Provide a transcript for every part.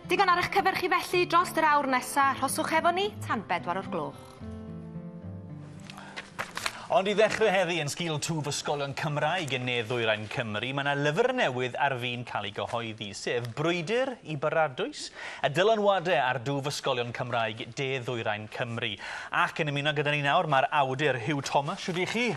Digon ar eich cyfer chi felly dros yr awr nesa, rhoswch efo ni tan bedwar o'r gloch. Ond i ddechrau heddi yn sgil twf ysgolion Cymraeg yn ne ddwyrain Cymru, mae yna lyfr newydd ar fin cael ei gyhoeddi, sef Brwydr i Baradwys, y dylanwadau ar dwf ysgolion Cymraeg de ddwyrain Cymru. Ac yn ymuno gyda ni nawr mae'r awdur Huw Thomas. Shwd i chi?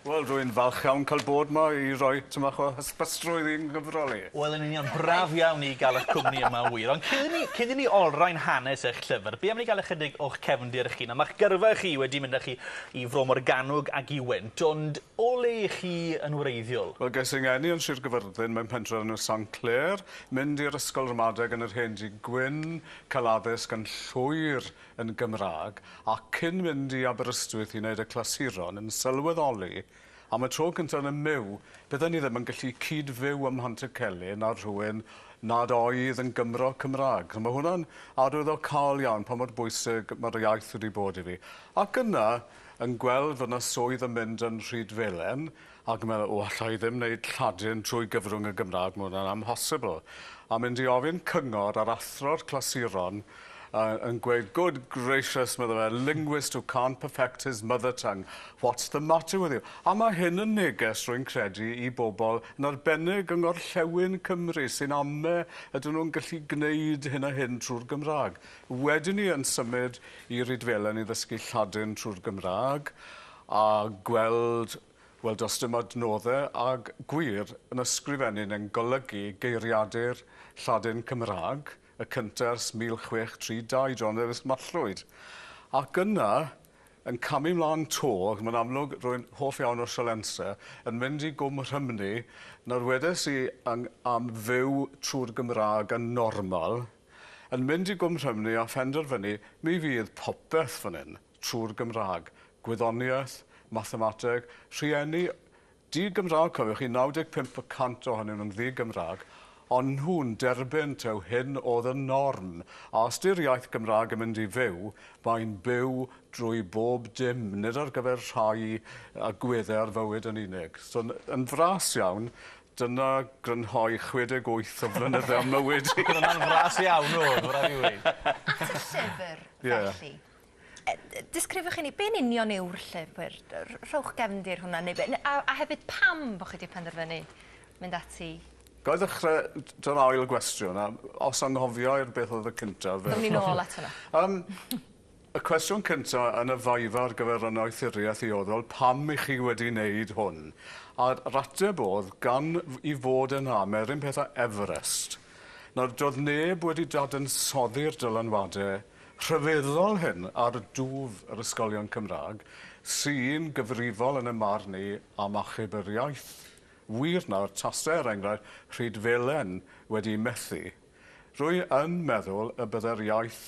Wel rwy'n falch iawn cael bod 'ma i roi tym bach o hysbystrwydd i'n nghyfrol i. Wel yn union, braf iawn i gael eich cwmni yma yn wir. Ond cyn i ni cyn i ni olrhain hanes eich llyfr, be am ni gael ychydig o'ch cefndir chi? Nawr ma'ch gyrfa chi wedi mynd â chi i Fro Morgannwg ac i Went, ond o le 'ych chi yn wreiddiol? Wel ges i 'ngeni yn Sir Gyfyrddin mewn pentre o'r enw Sant Clêr, mynd i'r ysgol ramadeg yn yr Hen Dŷ Gwyn, cael addysg yn llwyr yn Gymraeg ac cyn mynd i Aberystwyth i wneud y clasuron yn sylweddoli am y tro cyntaf yn y myw bydden i ddim yn gallu cyd-fyw ym Mhantycelyn â rhywun nad oedd yn Gymro Cymraeg. So mae hwnna'n arwyddocaol iawn pa mor bwysig mae'r iaith wedi bod i fi. Ac yna yn gweld fod 'na swydd yn mynd yn Rhyd Felen Ac mae o alla i ddim wneud Lladin trwy gyfrwng y Gymraeg, mae hwnna'n amhosibl. A mynd i ofyn cyngor ar athro'r clasuron uh, yn gweud, good gracious, mae fe, linguist who can't perfect his mother tongue, what's the matter with you? A mae hyn yn neges, rwy'n credu, i bobl, yn arbennig yng ngorllewin Cymru, sy'n ame ydyn nhw'n gallu gwneud hyn a hyn trwy'r Gymraeg. Wedyn ni yn symud i Rydfelen i ddysgu Lladin trwy'r Gymraeg, A gweld, wel does dim adnoddau ag gwir yn ysgrifennu'n yn golygu geiriadur Lladin Cymraeg y cyntaf ers 1632, John Ellis Mallwyd. Ac yna, yn camu mlaen 'to, ac mae'n amlwg rwy'n hoff iawn o Sialensau, yn mynd i Gwm Rhymni, nawr wedes i yng am fyw trwy'r Gymraeg yn normal, yn mynd i Gwm Rhymni a phenderfynu mi fydd popeth fan hyn. trwy'r Gymraeg, Gwyddoniaeth, Mathemateg, rhieni di-Gymraeg, cofiwch chi, 95 y cant ohonyn nhw'n ddi-Gymraeg, ond nhw'n derbyn taw hyn oedd y norm, a os 'di'r iaith Gymraeg yn mynd i fyw, mae'n byw drwy bob dim, nid ar gyfer rhai a gweddau ar fywyd yn unig. So, yn fras iawn, dyna grynhoi 68 o flynydde o mywyd i. Dyna'n fras iawn, o, ma' raid fi weud. At y llyfr, felly. Disgrifiwch i ni, be'n union yw'r llyfr? Rhowch gefndir hwnna, neu be, a, a hefyd pam bod chi wedi penderfynu mynd ati? Ga i ddechrau dy'r ail gwestiwn, a os anghofio i'r beth oedd y cyntaf... Dwn ni'n ôl at hwnna. Um, y cwestiwn cyntaf yn y faifa ar gyfer y noethuriaeth i oddol, pam i chi wedi wneud hwn? A'r rateb oedd, gan i fod yn am, er un peth a Everest. Nawr, doedd neb wedi dadansoddi'r dylanwadau rhyfeddol hyn ar dwf yr ysgolion Cymraeg sy'n gyfrifol yn y marn ni am achub yr iaith. Wir nawr tase er enghraifft Rhydfelen wedi methu, rwy yn meddwl y bydde'r iaith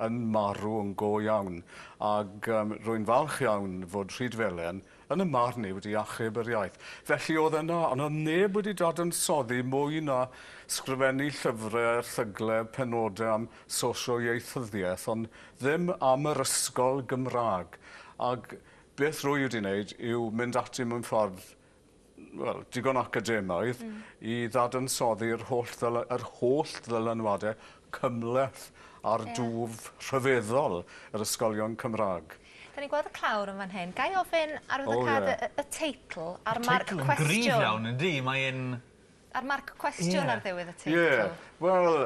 yn marw yn go iawn, ag rwy'n falch iawn fod Rhydfelen Yn y marn i wedi achub yr iaith. Felly oedd yna, ond oedd neb wedi dadansoddi mwy na sgrifennu llyfre, erthygle, penode am sosio-ieithyddiaeth, ond ddim am yr ysgol Gymraeg. Ag beth rwy wedi wneud yw mynd ati mewn ffordd, wel, digon academaidd, i ddadansoddi yr holl ddyla- yr holl ddylanwade cymhleth ar dwf rhyfeddol yr ysgolion Cymraeg. Dan ni'n gweld y clawr yn fan hyn. Ga i ofyn arwyddocâd y teitl a'r marc cwestiwn? Y teitl yn gryf iawn, yn di? Mae e'n... A'r marc cwestiwn ar ddiwedd y teitl? Ie, wel,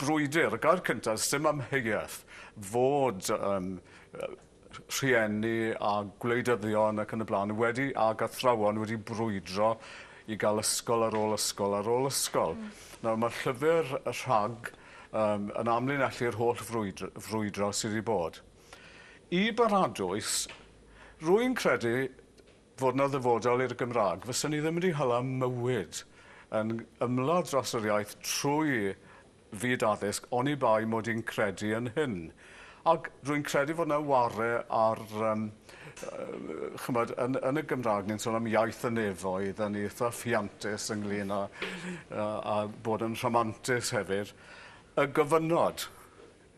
brwydr, y gair cyntaf, sdim amheuaeth fod rhieni a gwleidyddion ac yn y blaen wedi ag athrawon wedi brwydro i gael ysgol ar ôl ysgol ar ôl ysgol. Mm. Nawr mae'r llyfr y rhag um, yn amlinellu'r holl frwydr, frwydro sydd wedi bod. I baradwys, rwy'n credu fod yna ddyfodol i'r Gymraeg. Fyswn ni ddim wedi hala mywyd yn ymladd dros yr iaith trwy fyd addysg oni bai mod i'n credu yn hyn. Ac rwy'n credu fod yna ware ar, um, chymod, yn, yn y Gymraeg ni'n sôn am iaith y nefoedd, a ni eitha ffiantus ynglyn â, a, a bod yn rhamantus hefyd, y gofynod.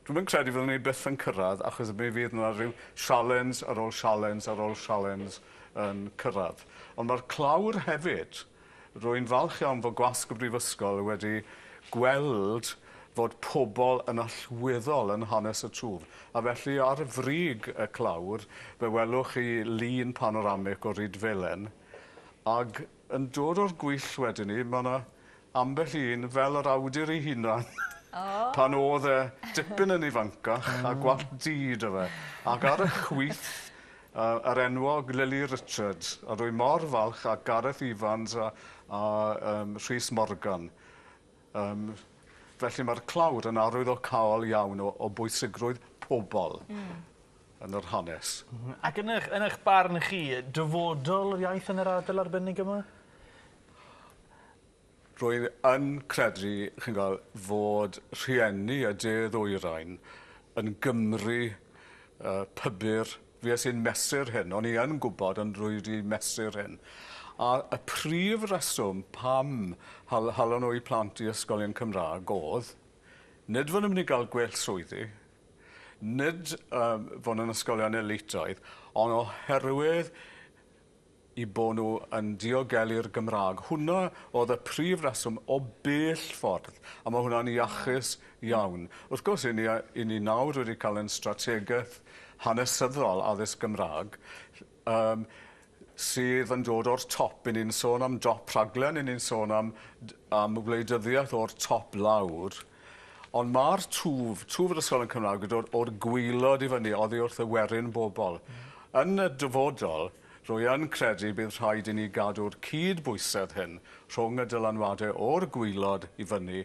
Dwi'm yn credu fyddwn ni byth yn cyrraedd achos mi fydd 'na ryw sialens ar ôl sialens ar ôl sialens yn cyrraedd. Ond mae'r clawr hefyd, rwy'n falch iawn fod gwasg y Brifysgol wedi gweld fod pobl yn allweddol yn hanes y twf, a felly ar frig y clawr fe welwch chi lun panoramig o Rydfelen ag Yn dod o'r gwyll wedyn 'ny ma' 'na ambell un fel yr awdur 'i hunan pan o'dd e dipyn yn ifancach a gwallt du 'da fe ac ar y chwith yy yr enwog Lili Richards a rwy mor falch a Gareth Evans a a yym Rhys Morgan yym felly ma'r clawr yn arwydd o caol iawn o o bwysigrwydd pobol. Hmm. yn yr hanes. Ac yn ych yn ych barn chi, dyfodol yr iaith yn yr ardal arbennig yma? Rwy'n yn credu, chi'n gwel, fod rhieni y de ddwyrain yn Gymry uh, pybyr, fi as i'n mesur hyn, o'n i yn gwybod ond rwy wedi mesur hyn. A y prif reswm pam hal, halon nhw i plant i ysgolion Cymraeg oedd, nid fod nhw'n mynd i gael gwell swyddi, nid um, fod nhw'n ysgolion elitoedd, ond oherwydd i bod nhw yn diogelu'r Gymraeg. Hwna oedd y prif reswm o bell ffordd, a mae hwnna'n iachus iawn. Wrth gwrs, i ni, i ni nawr wedi cael ein strategaeth hanesyddol addysg Gymraeg, Yym, sydd yn dod o'r top, 'yn ni'n sôn am dop rhaglen, 'yn ni'n sôn am d- am wleidyddiaeth o'r top lawr, ond ma'r twf, twf yr ysgol yn Cymraeg yw'r dod o'r gwaelod i fyny oddi wrth y werin bobol. Yn y dyfodol, rwy yn credu bydd rhaid i ni gadw'r cyd-bwysedd hyn rhwng y dylanwade o'r gwaelod i fyny